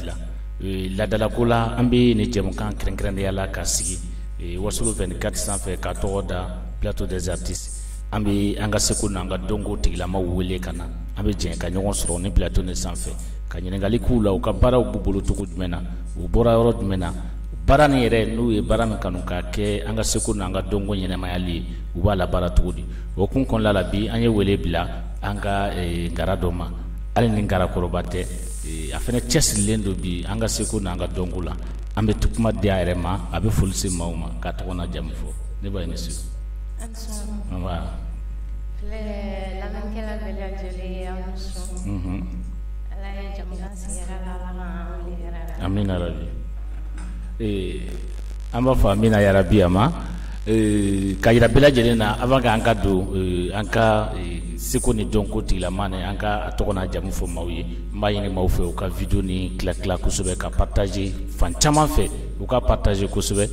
bila ladalako la an bɛ ni jɛmukan kɛrɛnkɛrɛnya la ka sigi wasulu vingt-quatre sanfɛ ka tɔgɔ da plateau des artistes an bɛ an ka seko n'an ka dɔnko tigilama wele ka na an bɛ jɛ ka ɲɔgɔn sɔrɔ ni plateau ni sanfɛ ka ɲininkali k'u la u ka baaraw b'u bolo cogo jumɛn na u bɔra yɔrɔ jumɛn na baara ni yɛrɛ n'u ye baara min kanu ka kɛ an ka seko n'an ka dɔnko ɲɛnamayali ye u b'a labaara cogo di o kun kɔnɔna la bi an ye wele bila an ka ngara dɔ ma hali ni ngarakɔrɔba tɛ a fana cɛsirilen don bi an ka seko n'an ka dɔnko la an bɛ to kuma di a yɛrɛ ma a bɛ foli se maaw ma k'a tɔgɔ n'a jamu fɔ nba i ni su lamɛnkɛla bɛɛ lajɛlen aw ni su ala ye jamana sigi hɛrɛ la ala ma an wuli hɛrɛ la amina yarabi ee an b'a fɔ amina yarabi a ma ka jira bɛɛ lajɛlen na avant que an ka don an ka seko ni dɔnko tigilama ni an k'a tɔgɔ n'a jamu fɔ maaw ye n b'a ɲini maaw fɛ u ka video ni tila tila kosɛbɛ ka partager fan caman fɛ u ka partager kosɛbɛ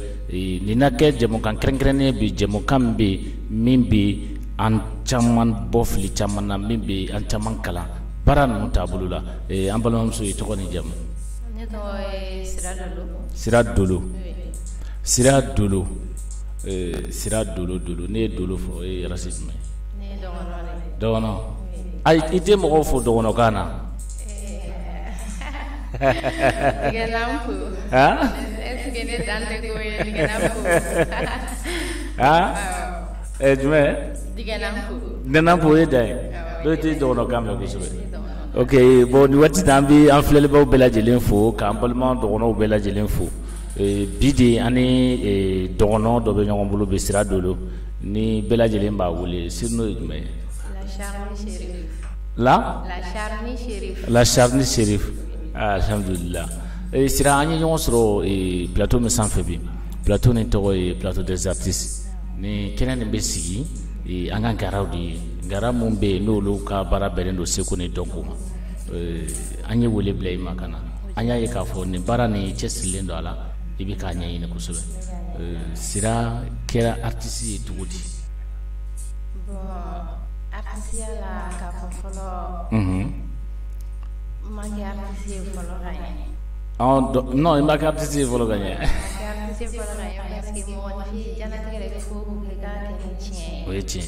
nin na kɛ jɛmukan kɛrɛnkɛrɛnnen bi jɛmukan min bɛ min bɛ an caman bɔ fili caman na min bɛ an caman kalan baara ninnu taabolo la an balimamuso ye tɔgɔ ni jamu sira dolo sira dolo sira dolo dolo ne ye dolo fɔ o ye race jumɛn dɔgɔn ayi i tɛ mɔgɔw fo dɔgɔnkan na jumɛn digɛnanpo o ye dan ye dɔw tɛ dɔgɔnkan mɛn kosɛbɛ oke bɔn ni waati an bɛ an filɛlibaw bɛɛ lajɛlen fo k'an balima dɔgɔnw bɛɛ lajɛlen fo Bi de an ni dɔgɔn dɔ bɛ ɲɔgɔn bolo bɛ sira dolo ni bɛɛ lajɛlen b'a wele siri n'o ye jumɛn ye la charni chérif alhamdulila sira an ye ɲɔgɔn sɔrɔ plateau min sanfɛ bi plateau ni tɔgɔ ye plateau des artistes ni kɛnɛ nin bɛ sigi an ka ngaraw de ye ngara minnu bɛ yen n'olu ka baara bɛnnen don seko ni dɔnko ma an ye wele bila i ma ka na an y'a ye k'a fɔ nin baara ni i cɛsirilen don a la i bɛ k'a ɲɛɲini kosɛbɛ sira kɛra artiste ye cogo di non i ma kɛ artiste ye fɔlɔ ka ɲɛ o ye tiɲɛ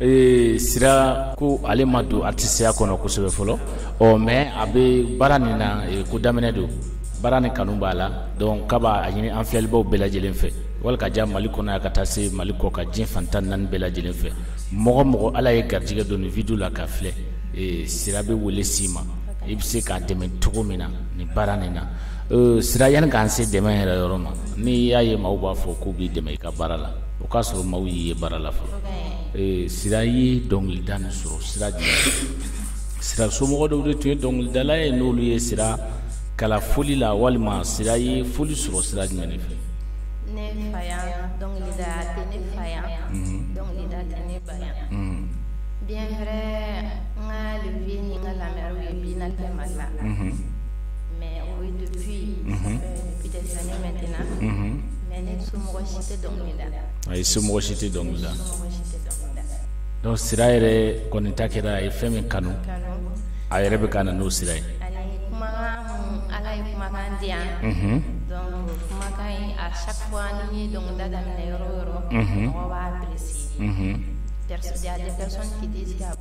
Ee sira ko ale ma don artisteya kɔnɔ kosɛbɛ fɔlɔ ɔ mais a bɛ baara nin na ko daminɛ don baara nin kanu b'a la donc k'a b'a ɲini an filɛlibaw bɛɛ lajɛlen fɛ wali ka jan mali kɔnɔ yan ka taa se mali kɔkan diɲɛ fan tan naani bɛɛ lajɛlen fɛ mɔgɔ o mɔgɔ ala ye garijɛgɛ don nin vidéo la k'a filɛ sira bɛ wele s'i ma i bɛ se k'a dɛmɛ cogo min na ni baara nin na Sira yanni k'an se dɛmɛ yɛrɛ yɔrɔ ma n'i y'a ye maaw b'a fɔ k'u b'i dɛmɛ i ka baara la o k'a sɔrɔ maaw y'i ye baara la fɔlɔ sira ye dɔnkilida nin sɔrɔ sira sira somɔgɔ dɔw de tun ye dɔnkilidala ye n'olu ye sira kalan fɔli la walima sira ye fɔli sɔrɔ sira jumɛn fɛ Ayi somɔgɔ si tɛ dɔnkili da donc sira yɛrɛ kɔni ta kɛra a ye fɛn min kanu a yɛrɛ bɛ ka na n'o sira ye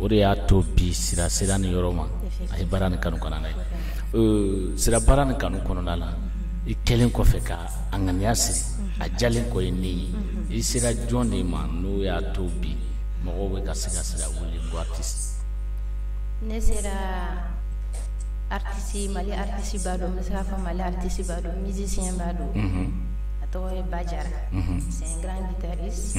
o de y'a to bi sira sera nin yɔrɔ ma a ye baara nin kanu kɔnɔna ye sira baara nin kanu kɔnɔna la i kɛlen kɔfɛ ka a ŋaniya siri a jalen kɔ ye ne ye i sera jɔn de ma n'o y'a to bi mɔgɔw bɛ ka se ka sira wele ko artiste ne sera artiste mali artiste ba don n bɛ se k'a fɔ mali artiste ba don musicien ba don a tɔgɔ ye ba jara c'est un grand guitariste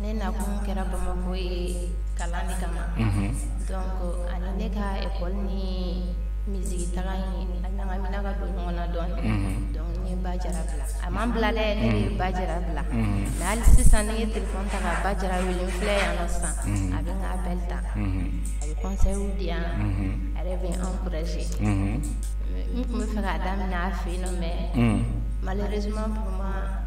ne na kun kɛra bamakɔ ye kalan de kama donc ani ne ka école ni miziki taga in a ɲagamina ka don ɲɔgɔn na dɔɔnin donc ne ye ba jara bila a ma n bila dɛ ne ye ba jara bila nka hali sisan ne ye telefɔn ta ka ba jara wele n filɛ yan nɔ sisan a bɛ n ka appel ta a bɛ conseil di yan a yɛrɛ bɛ n encourager n tun bɛ fɛ k'a daminɛ a fɛ yen nɔ mais malheureusement pour moi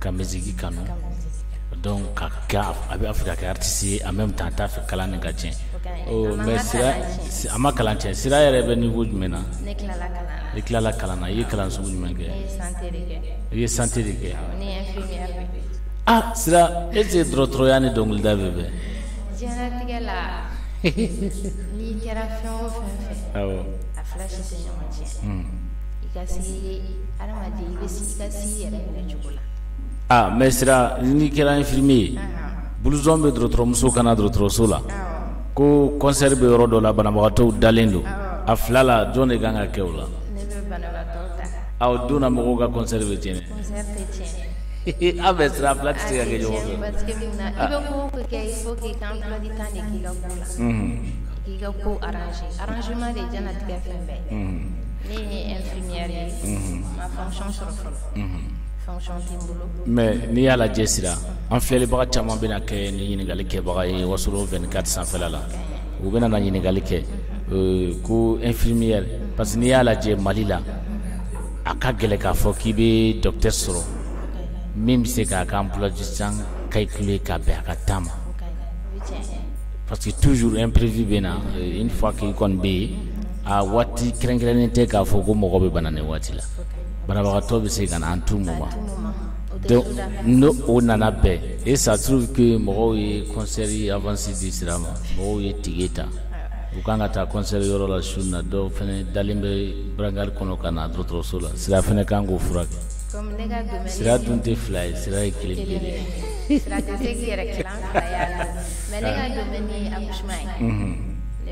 ka miziki kanu donc a b'a fɛ ka kɛ artiste ye en même temps a t'a fɛ kalan nin ka tiɲɛ oh, mais sira a ma kalan tiɲɛ sira yɛrɛ bɛ niveau jumɛn na ne tilala kalan na i tilala kalan na i ye kalan sugu jumɛn kɛ i ye santé de kɛ ah sira est-ce que dɔgɔtɔrɔya ni dɔnkilida bɛ bɛn diɲɛlatigɛ la n'i kɛra fɛn o fɛn fɛ awɔ a fila si tɛ ɲɔgɔn tiɲɛ i ka se Aa mais sira ni kɛra infirmier blouson bɛ dɔgɔtɔrɔmuso kan na dɔgɔtɔrɔso la ko kɔnsɛri bɛ yɔrɔ dɔ la banabagatɔw dalen don a fila la jɔn de ka kan ka kɛ o la a dɔnna mɔgɔw ka kɔnsɛri bɛ tiɲɛ aw bɛ sira fila tɛ se ka kɛ ɲɔgɔn fɛ ne ye infirmière ye mhm. n ma fonction sɔrɔ fɔlɔ mhm. fonction tɛ n bolo mais n'i y'a lajɛ sira an filɛlibaga caman bɛna kɛ ni ɲininkali kɛbaga ye wasolo 24 sanfɛla la u bɛna na ɲininkali kɛ euh, ko infirmière parce que n'i y'a lajɛ mali la a ka gɛlɛn k'a fɔ k'i bɛ docteur sɔrɔ min bɛ se k'a ka emploi-du-temps calculer ka bɛn a ka temps ma parce que toujours imprévu bɛ na euh, une fois k'i kɔni bɛ yen a waati kɛrɛnkɛrɛnnen tɛ k'a fɔ ko mɔgɔ bɛ bana nin waati la banabagatɔ bɛ se ka na en tout moment donc n'o o nana bɛn et ça trouve que mɔgɔw ye concert avance di sira ma mɔgɔw ye tige ta u kan ka taa concert yɔrɔ la su na dɔw fɛnɛ dalen bɛ brancard kɔnɔ ka na dɔgɔtɔrɔso la sira fɛnɛ kan k'o furakɛ sira dun tɛ fila ye sira ye kelen kelen de ye sira tɛ se k'i yɛrɛ tilan fila ye a la mais ne ka domaine ye accouchement ye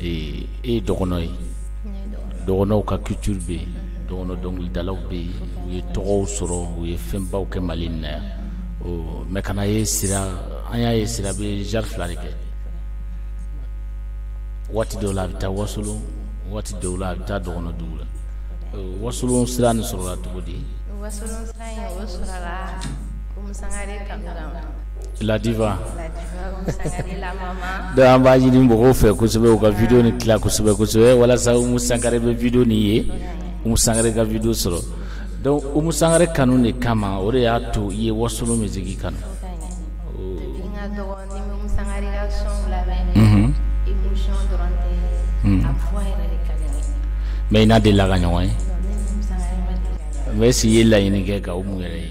e ye dɔgɔnɔ ye dɔgɔnɔw ka culture bɛ yen dɔgɔnɔ dɔnkilidalaw bɛ yen u ye tɔgɔw sɔrɔ u ye fɛnbaw kɛ mali in na yan mais kana ye an y'a ye sira bɛ genre fila de kɛ waati dɔw la a bɛ taa wasolo waati dɔw la a bɛ taa dɔgɔnɔ dugu la wasolo sira nin sɔrɔla cogo di la diva donc an b'a ɲini mɔgɔw fɛ kosɛbɛ u ka vidiyo nin tila kosɛbɛ kosɛbɛ walasa umu sangare bɛ vidiyo nin ye umu sangare ka vidiyo sɔrɔ donc umu sangare kanu de kama o de y'a to i ye wasolo musique kanu mais i n'a delila ka ɲɔgɔn ye mais est-ce i ye laɲini kɛ ka umu yɛrɛ ye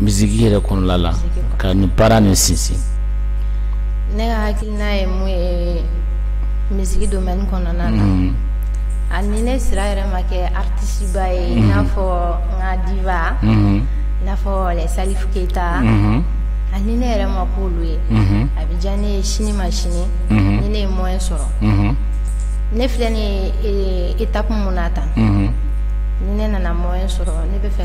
misiki yɛrɛ kɔnɔla la ka nin baara nin sinsin ne hakilina ye mun ye misiki domaine kɔnɔna na ani ne sira yɛrɛ ma kɛ artiste ba ye n'a fɔ n ka diva n'a fɔ les salifu keyita ani ne yɛrɛ ma k'olu ye a bɛ diya ne ye sini ma sini ni ne ye moyen sɔrɔ ne filɛ nin étape min na tan ni ne nana moyen sɔrɔ ne b'a fɛ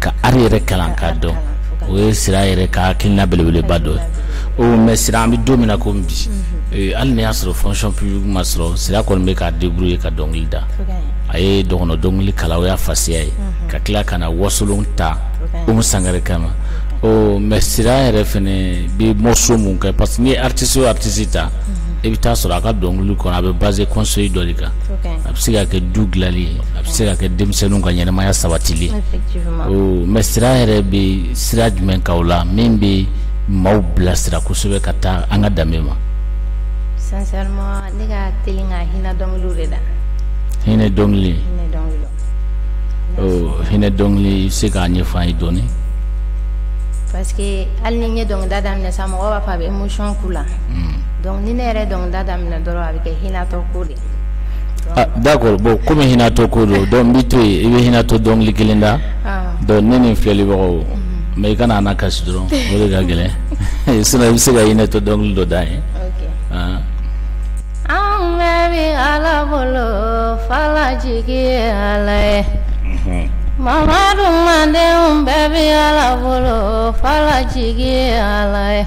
ka art yɛrɛ kalan k'a dɔn o ye sira yɛrɛ ka hakilina belebeleba dɔ ye mais sira an bɛ don min na kɔmi bi hali ni y'a sɔrɔ fonction publique ma sɔrɔ sira kɔni bɛ k'a débrouiller ka dɔnkili da a ye dɔgɔnɔ dɔnkili kalan o y'a fasiya ye ka tila ka na wasolon ta Umu Sangare kama ɔ mais sira yɛrɛ fɛnɛ bɛ morceau mun kɛ parce que n'i ye artiste o artiste ta i bɛ taa sɔrɔ a ka dɔnkili kɔnɔ a bɛ baser conseil dɔ de kan a bɛ se ka kɛ du dilanli ye a bɛ se ka kɛ denmisɛnninw ka ɲɛnamaya sabatili mais sira yɛrɛ bɛ sira jumɛn kan u la min bɛ maaw bilasira kosɛbɛ ka taa an ka danbe ma sincèrement ne ka teli ka hinɛ dɔnkiliw de da hinɛ dɔnkili hinɛ dɔnkili i bɛ se k'a ɲɛfɔ an ye dɔɔnin parce que hali ni n ye dɔnkilida daminɛ sa mɔgɔw b'a fɔ a bɛ émotion k'u la donc ni ne yɛrɛ dɔnkilida daminɛ dɔrɔn a bɛ kɛ hinɛtɔ D'accord bon kɔmi hinɛtɔ ko don donc n b'i to i bɛ hinɛtɔ dɔnkili kelen da donc ne ni filɛlibagaw mais i kana an kasi dɔrɔn o de ka gɛlɛn sinon i bɛ se ka hinɛtɔ dɔnkili dɔ da ye an bɛɛ bɛ ala bolo fala jigi ye ala ye mamadu manden bɛɛ bɛ ala bolo fala jigi ye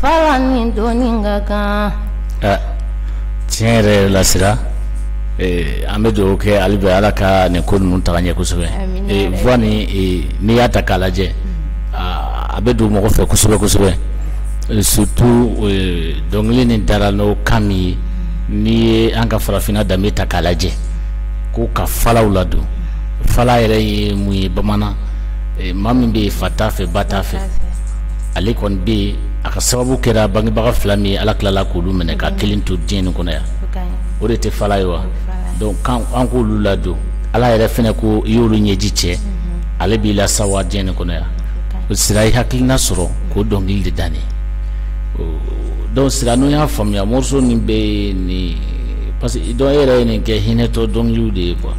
Fala ni doni ka kan tiɲɛ yɛrɛ la sira an bɛ dugawu kɛ hali bi ala ka nin ko ninnu taga ɲɛ kosɛbɛ voix nin n'i y'a ta k'a lajɛ a bɛ don mɔgɔ fɛ kosɛbɛ kosɛbɛ surtout dɔnkili nin dara n'o kan min ye n'i ye an ka farafinna danbe ta k'a lajɛ ko ka falaw ladon fala yɛrɛ ye mun ye bamanan maa min bɛ yen fa t'a fɛ ba t'a fɛ ale kɔni bɛ yen a ka sababu kɛra bangebaga fila min ye ala tilala k'olu minɛ k'a kelen to diɲɛ nin kɔnɔ yan o de tɛ fala ye wa donc an k'olu ladon ala yɛrɛ fɛnɛ ko i y'olu ɲɛji cɛ mhm. ale b'i lasawa diɲɛ nin kɔnɔ yan o sira i hakilina sɔrɔ k'o dɔnkili de danne donc sira n'o y'a faamuya morceau nin bɛ nin parce que donc e yɛrɛ ye nin kɛ hinɛtɔ dɔnkiliw de ye quoi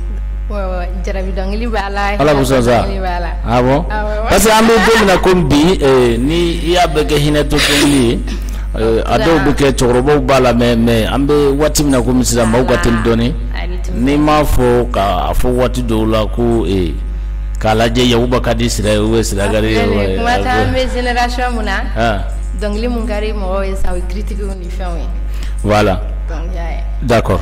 parce que an bɛ don min na kɔmi bi ni i y'a bɛɛ kɛ hinɛtɔ dɔnkili ye a dɔw bɛ kɛ cɛkɔrɔbaw b'a la mais mais an bɛ waati min na kɔmi sisan maaw ka teli dɔɔnin n'i m'a fɔ k'a fɔ waati dɔw la ko ee k'a lajɛ yaba ka di sira o ye sira ye voilà d'accord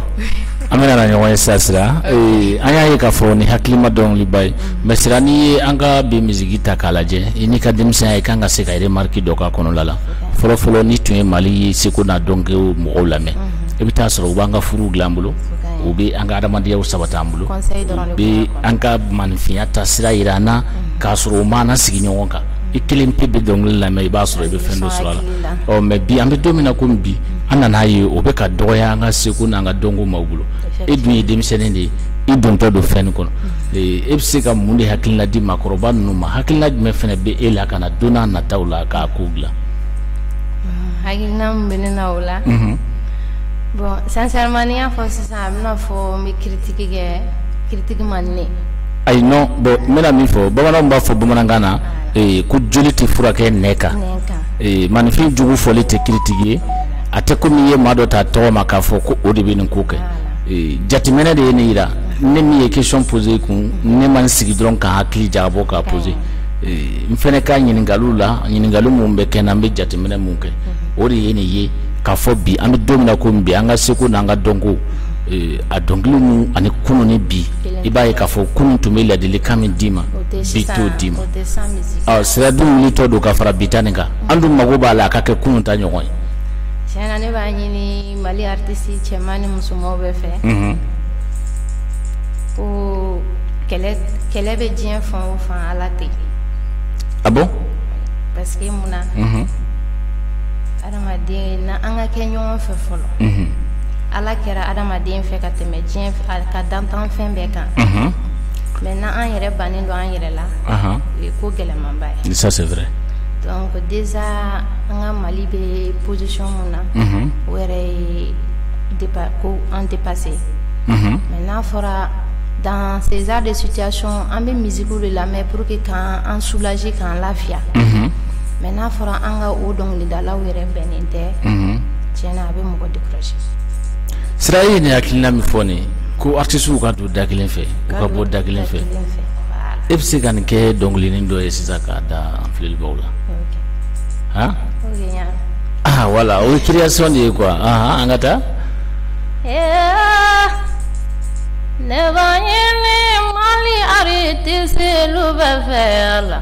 an bɛna na ɲɔgɔn ye sa sira an y'a ye k'a fɔ ni hakilima dɔnkiliba ye mais sira n'i ye an ka bi misiki ta k'a lajɛ i n'i ka denmisɛnya i kan ka se ka remarque dɔ k'a kɔnɔla la fɔlɔfɔlɔ n'i tun ye mali ye seko n'a dɔnko mɔgɔw lamɛn i bɛ taa sɔrɔ u b'an ka furuw dilan an bolo u bɛ an ka adamadenyaw sabati an bolo u bɛ an ka maninfinya taasira jira an na k'a sɔrɔ u m'an sigi ɲɔgɔn kan i kelen pe bɛ dɔnkili lamɛn i b'a sɔrɔ i bɛ fɛn dɔ sɔrɔ a la ɔ mais bi an bɛ don min na komi bi an nan'a ye o bɛ ka dɔgɔya an ka seko n'an ka dɔnko maaw bolo e dun ye denmisɛnnin de ye i dontɔ don fɛn kɔnɔ e bɛ se ka mun de hakilina di maakɔrɔba ninnu ma hakilina jumɛn fana bɛ e la ka na don n'a nataw la k'a ko dilan. hakilina min bɛ ne na o la. Mhm. bon sincèrement n'i y'a fɔ sisan a bɛna fɔ n bɛ critique kɛ critique man di ne ye. ayi non bon n bɛna min fɔ bamananw b'a fɔ bamanankan na ee ko joli tɛ furakɛ nɛn kan ee maninfin jugu fɔli tɛ critique ye a tɛ komi i ye maa dɔ ta tɔgɔ ma k'a fɔ ko o de bɛ nin ko kɛ ee jateminɛ de ye ne yɛrɛ ne min ye question posé kun ne ma n sigi dɔrɔn ka hakili jagabɔ k'a posé ee n fɛnɛ ka ɲininkaliw la ɲininkali minnu bɛ kɛ n na n bɛ jateminɛ mun kɛ o de ye nin ye k'a fɔ bi an bɛ don min na komi bi an ka seko n'an ka dɔnko ee a dɔnkili ninnu ani kunun ni bi i b'a ye k'a fɔ kunun tun bɛ ladilikan min d'i ma bi t'o d'i ma ɔ sira dun wulitɔ don ka fara bi ta nin kan an dun mago b'a la a ka kɛ kunun ta ɲɔgɔn ye tiɲɛ na ne b'a ɲini mali artiste cɛman ni musomanw bɛɛ fɛ mhm. ko kɛlɛ kɛlɛ bɛ diɲɛ fan o fan ala tɛ ah bon parce que mun na mhm. Adamaden na an ka kɛ ɲɔgɔn fɛ fɔlɔ ala kɛra adamaden fɛ ka tɛmɛ diɲɛ ka danfɛn bɛɛ kan mais n'an yɛrɛ bannen don an yɛrɛ la o ye ko gɛlɛmanba ye donc déjà an ka mali bɛ position min na o yɛrɛ ye ko an dépassé mais n'a fɔra dans ces genres de situation an bɛ misiki de lamɛn pour que k'an soulager k'an lafiya mais n'a fɔra an ka o dɔnkilidalaw yɛrɛ bɛnnen tɛ tiɲɛ na a bɛ mɔgɔ décourager sira ye nin hakilina min fɔ nin ko artistes ka don da kelen fɛ u ka bɔ da kelen fɛ e bɛ se ka nin kɛ dɔnkilinin dɔ ye sisan k'a da an filɛlibaw la han voilà o ye création de ye quoi an ka taa ne b'a ɲini mali artistes bɛɛ fɛ la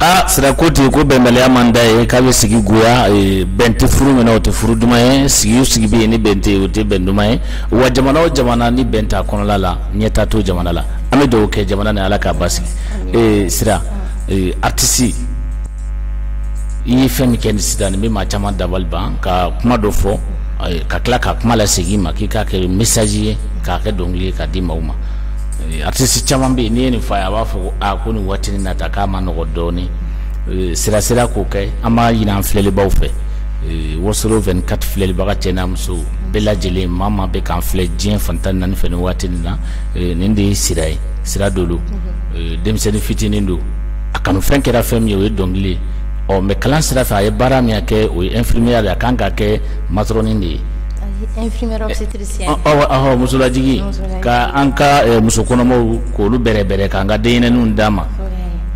aa sira ko ten ko bɛnbaliya man d'a ye k'a bɛ sigi goya bɛn tɛ furu min na o tɛ furu duman ye sigi o sigi bɛ yen ni bɛn tɛ yen o tɛ bɛn duman ye wa jamana o jamana ni bɛn t'a kɔnɔla la ɲɛtaa t'o jamana la an bɛ dugawu kɛ jamana ni ala k'a basigi ee sira ee aritisi i ye fɛn min kɛ nin sisan nin bɛ maa caman dabali ban ka kuma dɔ fɔ ka tila ka kuma lasegin i ma k'i k'a kɛ mesaji ye k'a kɛ dɔnkili ye k'a di maaw ma artiste caman bɛ yen n'i ye nin fɔ a ye a b'a fɔ ko aa ko nin waati nin na ta k'a man nɔgɔ dɔɔni eh, sira sira k'o kɛ an b'a ɲini an filɛlibaw fɛ eh, wasolo 24 filɛlibaga cɛ n'a muso bɛɛ lajɛlen maa maa bɛ k'an filɛ diɲɛ fan tan ni naani fɛ nin waati nin na eh, nin de ye sira ye sira dolo denmisɛnnin fitinin don a kanufɛn kɛra fɛn min ye o ye dɔnkili ye ɔ mɛ kalan sira fɛ a ye baara min kɛ o ye infirmière de ye a kan ka kɛ matɔrɔni de ye infirmière obstétricienne Musolajigin k'an ka muso kɔnɔmaw k'olu bɛrɛ bɛrɛ k'an ka denyɛrɛninw d'an ma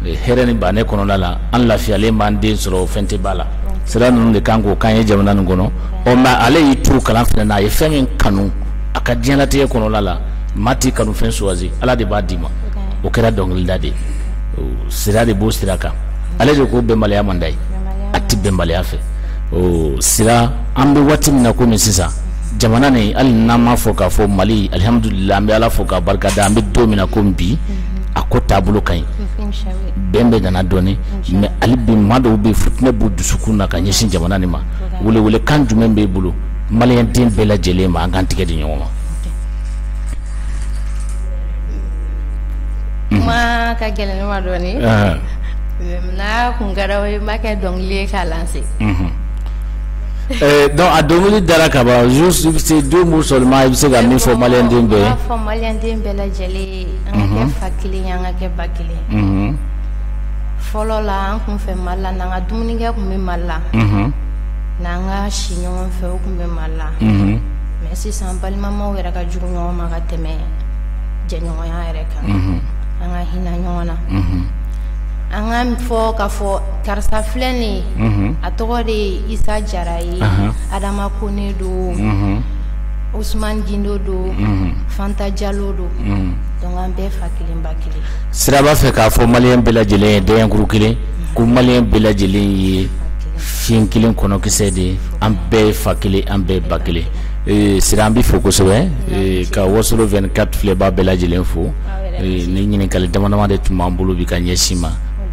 hɛrɛ ni bɛn kɔnɔna la an lafiyalen b'an den sɔrɔ o fɛn tɛ ba la sira ninnu de kan k'o k'an ye jamana nin kɔnɔ ɔ nka ale y'i to kalan fɛ n'a ye fɛn min kanu a ka diɲɛnatigɛ kɔnɔ la maa tɛ kanu fɛn choisir ala de b'a d'i ma o kɛra dɔnkilida de sira de b'o sira kan ale de ko bɛnbaliya man d'a ye a tɛ bɛnbaliya fɛ sira an bɛ waati min na komi sisan jamana nin hali n'an m'a fɔ k'a fɔ mali alihamdulila an bɛ ala fo k'a barika da an bɛ don min na komi bi a ko taabolo ka ɲi bɛn bɛ nana dɔɔni mɛ hali bi maa dɔw bɛ fitinɛ b'u dusukun na ka ɲɛsin jamana nin ma welewele kan jumɛn b'e bolo maliyɛn den bɛɛ lajɛlen ma an k'an tigɛ di ɲɔgɔn ma kuma ka gɛlɛn ne ma dɔɔni n'a kun kɛra o ye n b'a kɛ dɔnkili ye k'a lanse Donc a dɔnkili dara ka ban juste deux mots seulement i bɛ se ka min fɔ maliyɛn den bɛɛ lajɛlen an ka kɛ fa kelen an ka kɛ ba kelen fɔlɔ la an tun fɛ ma la n ka dumunikɛ tun bɛ ma la n'an ka si ɲɔgɔn fɛ o tun bɛ ma la mɛ sisan balimamaw yɛrɛ ka jugu ɲɔgɔn ma ka tɛmɛ jɛɲɔgɔnya yɛrɛ kan an ka hinɛ ɲɔgɔn na an ka fɔ ka fɔ karisa filɛ nin ye mhm. a tɔgɔ de ye isa jara ye adama kone don mhm. usman gindo don mhm. fanta jalo don donc an bɛɛ fa kelen ba kelen sira b'a fɛ k'a fɔ maliyɛn bɛɛ lajɛlen ye dɛɲɛkuru kelen ko maliyɛn bɛɛ lajɛlen ye filen kelen kɔnɔkisɛ de ye an bɛɛ ye fa kelen an bɛɛ ba kelen eh, sira an b'i fo kosɛbɛ eh, ka wasolo 24 filɛbaa bɛɛ lajɛlen fo ah, eh, ni ɲininkali dama dama de tun b'an bolo bi ka ɲɛsin i ma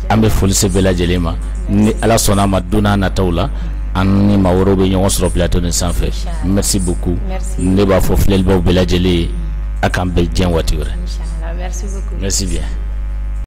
an bɛ foli se bɛɛ lajɛlen ma ni ala sɔnna a ma don n'a nataw la an ni maa wɛrɛw bɛ ɲɔgɔn sɔrɔ plateau nin sanfɛ merci beaucoup Merci. ne b'a fɔ filɛlibaaw bɛɛ lajɛlen ye a k'an bɛn diɲɛ waati wɛrɛ Inch'Allah. Merci beaucoup. merci bien